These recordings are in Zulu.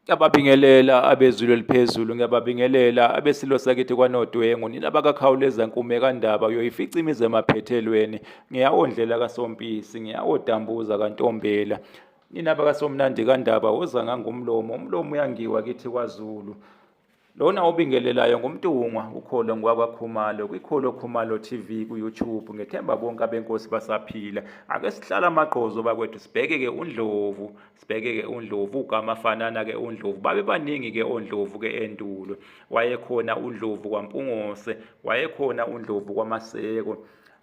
Ngiyababingelela abezulu eliphezulu, ngiyababingelela abesilo sakithi kwanodwengu, nina bakakhawuleza nkume kandaba uyoyifica imizi emaphethelweni, ngiyawondlela kasompisi, ngiyawodambuza kantombela. Nina bakasomnandi kandaba woza ngangomlomo, umlomo uyangiwa kithi kwaZulu. Lona obingelelayo ngumntungwa ukholo ngwakwakhumalo kwikholo khumalo TV kuYouTube ngethemba bonke abenkosi basaphila ake sihlala amagqozo bakwethu sibheke ke undlovu sibheke ke undlovu ugama fanana ke undlovu babe baningi ke ondlovu ke endulo wayekhona undlovu kwampungose wayekhona undlovu kwamaseko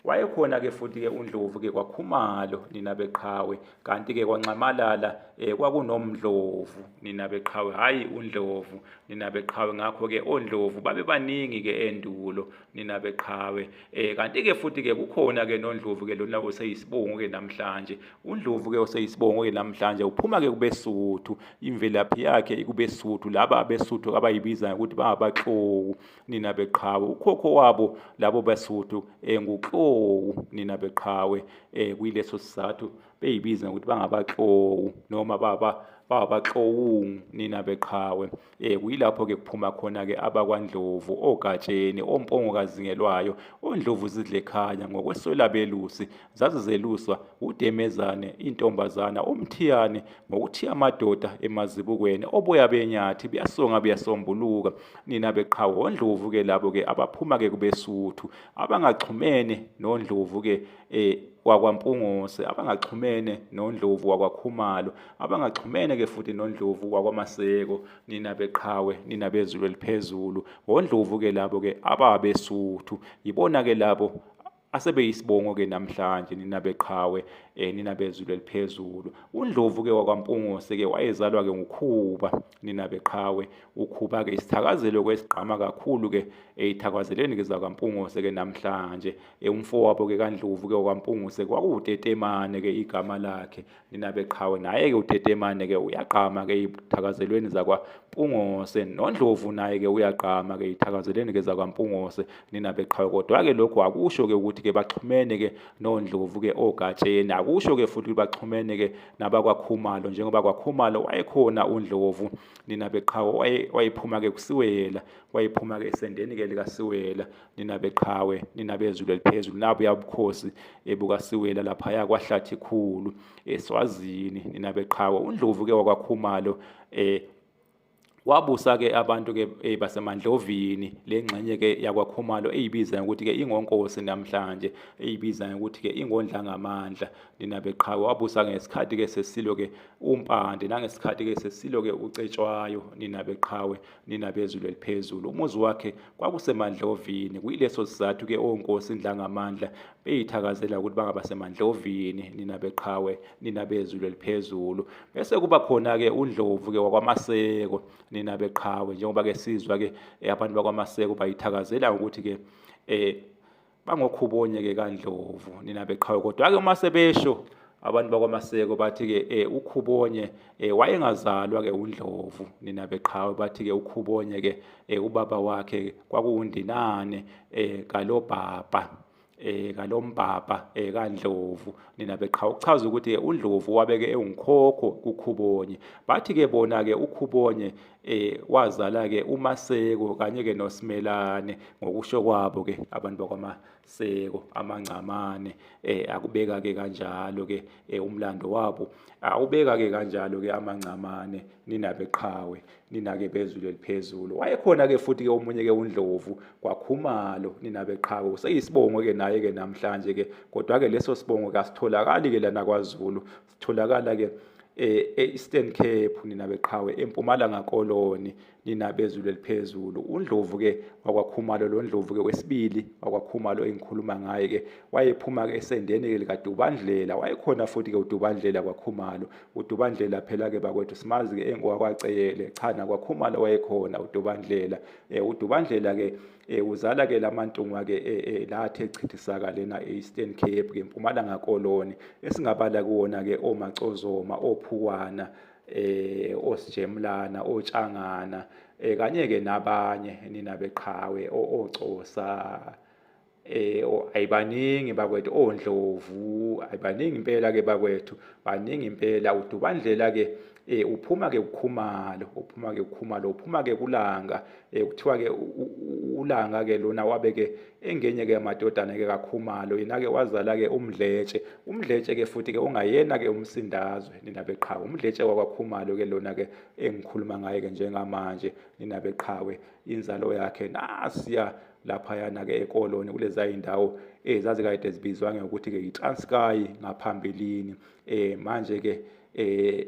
Wayekhona-ke futhi-ke uNdlovu-ke kwaKhumalo nina beqhawe, kanti-ke kwaNxamalala eh, kwakunoMdlovu nina beqhawe, hhayi uNdlovu nina beqhawe. Ngakho-ke oNdlovu babebaningi-ke endulo nina beqhawe. Eh, kanti-ke futhi-ke kukhona-ke noNdlovu-ke lona oseyisibongo-ke namhlanje. UNdlovu-ke oseyisibongo-ke namhlanje uphuma-ke kubeSuthu, imvelaphi yakhe ikubeSuthu, laba abeSuthu abayibizayo ukuthi bangabaXoku. nina beqhawe ukhokho wabo labo basuthu eh, nguklowu nina beqhawe eh, kuyileso sizathu beyibiza ngokuthi bangabaklowu noma baba babaxowungu nina beqhawe eh kuyilapho-ke kuphuma khona-ke abakwandlovu ogatsheni ompongokazingelwayo ondlovu zidlekhanya ngokweswela belusi zazizeluswa wudemezane intombazana umthiyane ngokuthiya amadoda emazibukweni oboya benyathi buyasonga buyasombuluka nina beqhawe ondlovu-ke labo-ke abaphuma-ke kubesuthu abangaxhumene nondlovu-ke um wakwampungose abangaxhumene nondlovu wakwakhumalo abangaxhumene-ke futhi nondlovu wakwamaseko nina beqhawe nina bezulu eliphezulu wondlovu-ke labo-ke ababesuthu yibona-ke labo asebeyisibongo-ke namhlanje nina beqhawe um eh, nina bezulu eliphezulu undlovu-ke wakwampungose-ke wayezalwa-ke ngukhuba nina beqhawe ukhuba-ke isithakazelo-ke esigqama kakhulu-ke um eh, ithakwazeleni-ke zakwampungose-ke namhlanje um umfowabo-ke kandlovu-ke wakwampungose kwakuwutetemane-ke igama lakhe ninabeqhawe naye-ke utetemane-ke uyagqama-ke iy'thakazelweni zakwampungose nondlovu naye-ke uyagqama-ke iy'thakazelweni-ke zakwampungose ninabeqhawe kodwa-ke lokhu akusho-ke ukuthi-ke baxhumene-ke nondlovu-ke ogatsheni akusho-ke futhi ukuthi baxhumene-ke nabakwakhumalo njengoba kwakhumalo wayekhona undlovu ninabeqhawe wayephuma-ke kusiwela wayephuma-ke esendeni-ke likasiwela nina beqhawe nina bezulu eliphezulu nabuya ubukhosi ebukasiwela laphaya kwahlathi khulu eswazini nina beqhawe undlovu ke wakwakhumalo eh wabusa ke abantu ke eh, basemandlovini lengxenye ke yakwakhumalo eyibiza ukuthi ke ingonkosi namhlanje eyibiza ukuthi ke ingondla ngamandla nina beqhawe wabusa ngesikhathi ke sesilo ke umpande nangesikhathi ke sesilo ke ucetshwayo nina beqhawe nina bezulu eliphezulu umuzi wakhe kwakusemandlovini kuyileso sizathu ke onkosi indlangamandla beyithakazela ukuthi bangaba semandlovini nina beqhawe nina bezulu eliphezulu bese kuba khona ke undlovu ke wakwamaseko nina beqhawe njengoba ke sizwa ke eh, abantu bakwamaseko bayithakazela ukuthi ke eh bangokhubonye-ke kandlovu nina beqhawe kodwa-ke uma sebesho abantu bakwamaseko bathi-ke um eh, ukhubonye um eh, wayengazalwa-ke undlovu nina beqhawe bathi-ke ukhubonye-ke um eh, ubaba wakhe kwakuwundinane um kalobhabha eh kalombabha eh kandlovu nina beqhawe kuchaza ukuthi undlovu wabeke ewunkhokho kukhubonye bathi ke bona ke ukhubonye eh wazala ke uMaseko kanye ke noSimelane ngokusho kwabo ke abantu bakwaMaseko amangcamane eh akubeka ke kanjalo ke eh, umlando wabo awubeka ke kanjalo ke amangcamane ninabe qhawe ninake bezulu eliphezulu wayekhona ke futhi ke omunye ke uNdlovu kwakhumalo ninabe qhawe useyisibongo ke naye ke namhlanje ke kodwa ke leso sibongo kasitholakali ke lana kwaZulu Tholakala ke eh, e-Eastern Cape nina beqhawe eMpumalanga Koloni nina bezulu eliphezulu uNdlovu ke wakwaKhumalo lo Ndlovu ke wesibili wakwaKhumalo engikhuluma ngaye ke wayephuma ke esendeni ke likaDubandlela wayekhona futhi ke uDubandlela kwaKhumalo uDubandlela phela ke bakwethu simazi ke engowakwaceyele cha nakwaKhumalo wayekhona uDubandlela eh uDubandlela ke Eh uzala ke lamantungwa ke eh, eh, lathe chithisaka lena eEastern Cape ke Mpumalanga Koloni esingabala kuwona ke omacozoma ophukwana eh osijemlana otshangana eh kanye ke nabanye nina beqhawe ocosa eh ayibaningi bakwethu ondlovu ayibaningi impela ke bakwethu baningi impela udubandlela ke eh uphuma ke ukhumalo uphuma ke ukhumalo uphuma ke kulanga Eh kuthiwa ke ulanga ke lona wabe ke engenye ke amadodana ke kakhumalo yena ke wazala ke umdletshe umdletshe ke futhi ke ungayena ke umsindazwe nina beqhawe umdletshe wakwakhumalo ke lona ke engikhuluma ngaye ke njengamanje nina beqhawe inzalo yakhe nasiya laphayana ke ekoloni kuleza indawo eh zazikade zibizwa ngokuthi ke yiTranskei ngaphambilini eh manje ke eh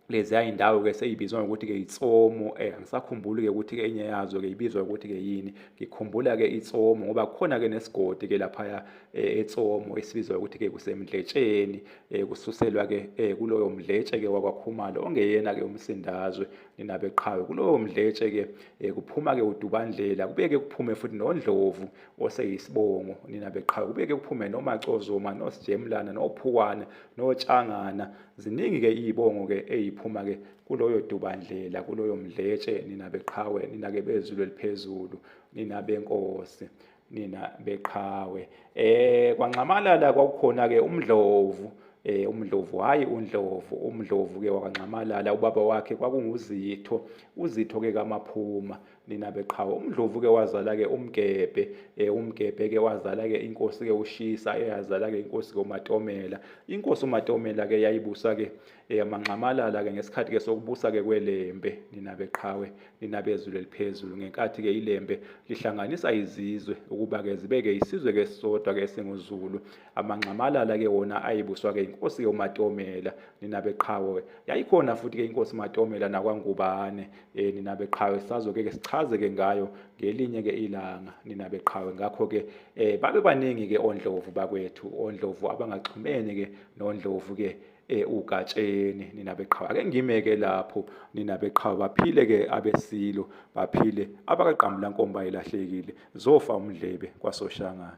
leziya indawo-ke seyibizwa ngokuthi-ke itsomo um eh, angisakhumbuli-ke ukuthi-ke enye yazo-ke ibizwa ukuthi-ke yini ngikhumbula-ke itsomo ngoba kukhona-ke nesigodi-ke laphaya eh, etsomo esibizwa ukuthi-ke kusemdletsheni um kususelwa-ke um kuloyo mdletshe-ke wakwakhumalo ongeyena-ke umsindazwe ninabeqhawe kulowo mdletshe-ke um kuphuma-ke udubandlela kubeke kuphume futhi nondlovu oseyisibongo ninabeqhawe kubeke kuphume nomacozoma nosijemlana nophukwana notshangana Ziningi ke izibongo ke eziphuma ke kuloyo dubandlela kuloyo mdletshe nina beqhawe nina ke bezulu eliphezulu nina benkosi nina beqhawe eh kwanxamalala kwakukhona ke umdlovu eh umdlovu hayi undlovu umdlovu ke wakwanxamalala ubaba wakhe kwakunguzitho uzitho ke kamaphuma nina beqhawe umdlovu ke wazala ke umgebhe eh umgebhe ke wazala ke inkosi ke ushisa eyazala ke inkosi ke umatomela inkosi umatomela ke yayibusa ke eh manxamalala ke ngesikhathi ke sokubusa ke kwelembe nina beqhawe nina bezulu eliphezulu ngenkathi ke ilembe lihlanganisa izizwe ukuba ke zibe ke isizwe ke sisodwa ke singuzulu amanxamalala ke wona ayibuswa ke inkosi ke umatomela nina beqhawe yayikhona futhi ke inkosi umatomela nakwangubane eh nina beqhawe sazo ke sichaze ke ngayo ngelinye ke ilanga nina beqhawe ngakho ke eh babe baningi ke ondlovu bakwethu ondlovu abangaxhumene ke nondlovu ke eh ugatsheni nina beqhawe ake ngimeke lapho nina beqhawe baphile ke abesilo baphile abakaqambula nkomba ilahlekile zofa umdlebe kwasoshangana